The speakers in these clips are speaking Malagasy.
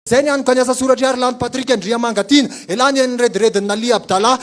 Izay ny antoka ny asa soratr'i Harilaly Patrick Andriamanga Tiana. Elah nihaino ny rediredin'i Naliha Abdallah.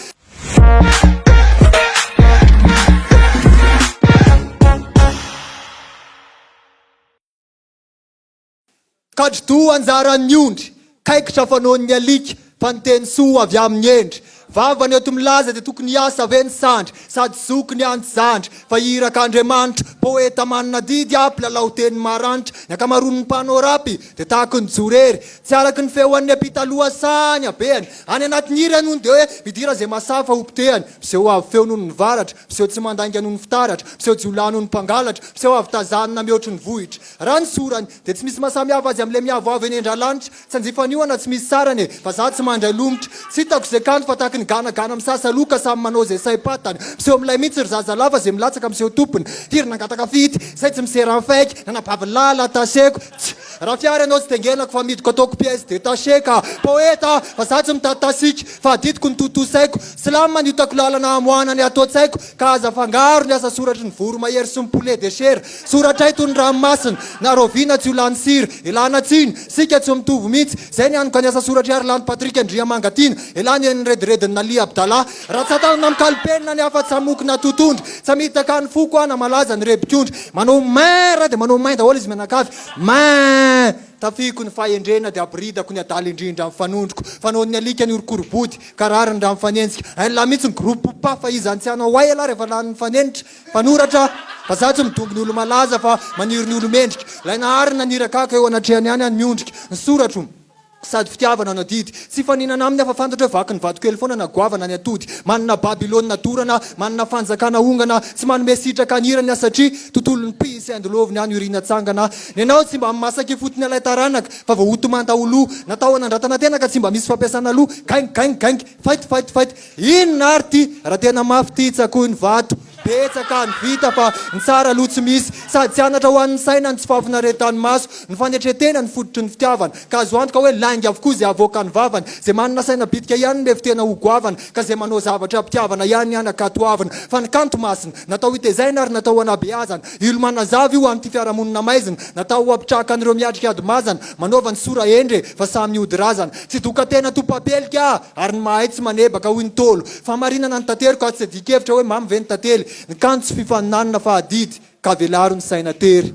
Kadri-doha anjaran'ny ondry, kaikitra fanaon'ny alika, fa ny teny soa avy amin'ny hendry. Vavany eto milaza dia tokony hiasa ve ny sandry sady zoky ny any zandry fa iraka Andriamanitra, poeta manana didy ah mpilalao teny maranitra, ny ankamaroan'ny mpanao rap dia tahaka ny jorery tsy araka ny feoan'ny ampita loha saha ny habehany, any anatin'ny hira ianao no dia hoe midira izay mahasahy fa ho potehany, miseho avo feo noho ny varatra, miseho tsy mandainga noho ny fitaratra, miseho jiolahy noho ny mpangalatra, miseho avo tazanina mihoatry ny vohitra raha ny sorany dia tsy misy mahasamihafa azy amin'ilay miavoavo eny an-dralanitra. Tsy hanjifa an'io ana tsy misy sarany e! Fa za tsy mandry alomotra. Tsy hitako ze kanto fa tahaky ny gana gana misasa aloha ka samy manao ze saim-patany. Miseho milay mintsy ry zaza lahy fa ze milatsaka miseho tompony. Firy nangataka fidy, zay tsy misera ny fake, nanabavy lahy lataseko. Tsy. Raha fiara ianao tsy tengenako fa amidiko ataoko pièce détachée ka. Poète aho fa za tsy mitady tasika fa adidiko ny tontosaiko. Slam ny otako lalana hamoahana ny ato an-tsaiko ka aza afangaro ny asa soratry ny voromahery sy ny poulet de chair. Soratra eto ny ranomasina na raoviana tsy ho lany sira. Elana tsiny, sika tsy mitovy mihitsy. Zay ny aniko any asa soratr'i Harilanto Patrick Andriamanga Tiana. Elany eny rediredin'i Nalia Abdallah. Raha tsatanana mikalo penina ny hafa tsamoky na totondry. Tsamitaka ny foko aho na malaza ny rebik'ondry. Manao mein ra dia manao mein daholo izy mianakavy. Mein! Tafihiko ny fahendrena dia abiridako ny adala indrindra ny fanondroko. Fanaon'ny alika ny horokorobody ka rariny raha mifanenjika. Ein la mihitsy ny groupe Pafa iza ny tsy hanao ay elah rehefa lany mifanenitra. Mpanoratra vazaha tsy midongy ny olo-malaza fa maniry ny olo-mendrika. Ilay nahary nanirakaka eo anatrehany any ny ondrika. Ny soratro, sady fitiavana no adidy. Tsy hifaninana aminy aho fa fantatro hoe vaky ny vatokely foana na goavana ny atody. Manana Babylona dorana, manana fanjakana hongana. Tsy manome sitraka ny hirany aho satria tontolon'ny mpihy sy haindoloviny any Orina tsangana. Ny anao tsy mba mimasaka ifotony ilay taranaka fa voahotomanta ho lo. Natao hanandratana tena ka tsy mba misy fampiasana loha. Gaing! Gaing! Gaing! Fight! Fight! Fight! Inona ary ty raha tena mafy ty tsakoy ny vato betsaka ny vita fa ny tsara aloha tsy misy sady tsy anatra ho an'ny saina ny tsy fahafinaretan'ny maso ny fanetretena ny fototry ny fitiavana ka azo antoka hoe lainga avokoa izay avoakan'ny vavany zay manana saina bitika ihany mefo tena ho goavana ka zay manao zavatra mpitiavana ihany hanakatoavina fa ny kanto masina natao hitezaina ary natao hanabeazana ilo manazava io an'ity fiarahamonina maizina natao hampitrahaka an'ireo miatrika ady mazana Manaova ny sora hendry e, fa samy hody razana. Tsy dokatena topapelika aho, ary ny mahay tsy manebaka, hoy ny Ntaolo. Fahamarinana ny tanteriko aho, tsy adin-kevitra hoe mamy ve ny tantely. Ny kanto tsy fifaninanana fa adidy, ka velaro ny saina tery.